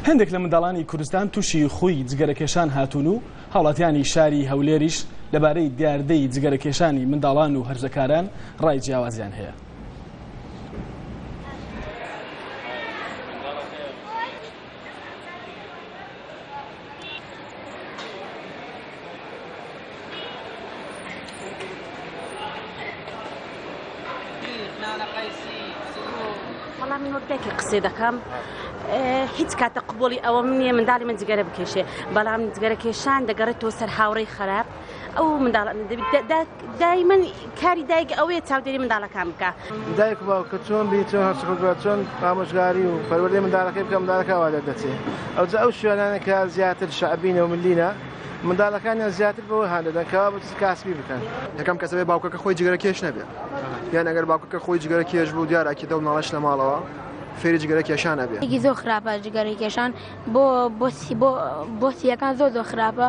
هەندێک لە منداڵانی کوردستان تووشی خووی جگەرەکێشان هاتوون و هاوڵاتیانی شاری هەولێریش لەبارەی دیاردەی جگەرەکێشانی منداڵان و هەرزەکاران ڕای جیاوازیان هەیە. دەکە قسێ دەکەم هیچ کاتە قوبڵی ئەوە منیە منداڵی من جگەرە بکێشێ بەڵام جگەرە کێشان دەگەڕێتەوە سەر هاوڕێی خراپ ئەو منداڵ دایمەن کاری دایک ئەوەیە چاودێری منداڵەکان بکە دایک باوکە چۆن بی چۆن هەرچکە چۆن ئامۆژگاری و پەروەردەی منداڵەکەی بکەم منداڵەکەوا دەردەچێت ئەو ئەو شوێنانەکە زیاتر شعبینە و ملینە منداڵەکانیان زیاتر بەوە هاندەدەن کەوا بچ کاسبی بکەن یەکەم کەسەبێ باوکەکە خۆی جگەرە کێش نەبێت یان ئەگەر باوکەکە خۆی جگەرە کێش بوو دیارراکی دە مناڵش لە ماڵەوە فێری جگەرە کێشان ئەبێ زۆ خراپە جگەرە کێشان بۆ بۆسی بۆ بۆسیەکان زۆ زۆ خراپە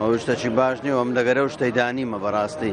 ئەوە شتەکی باش نیە و ئەم دەگەرە و شتەی دانیمە بەڕاستی.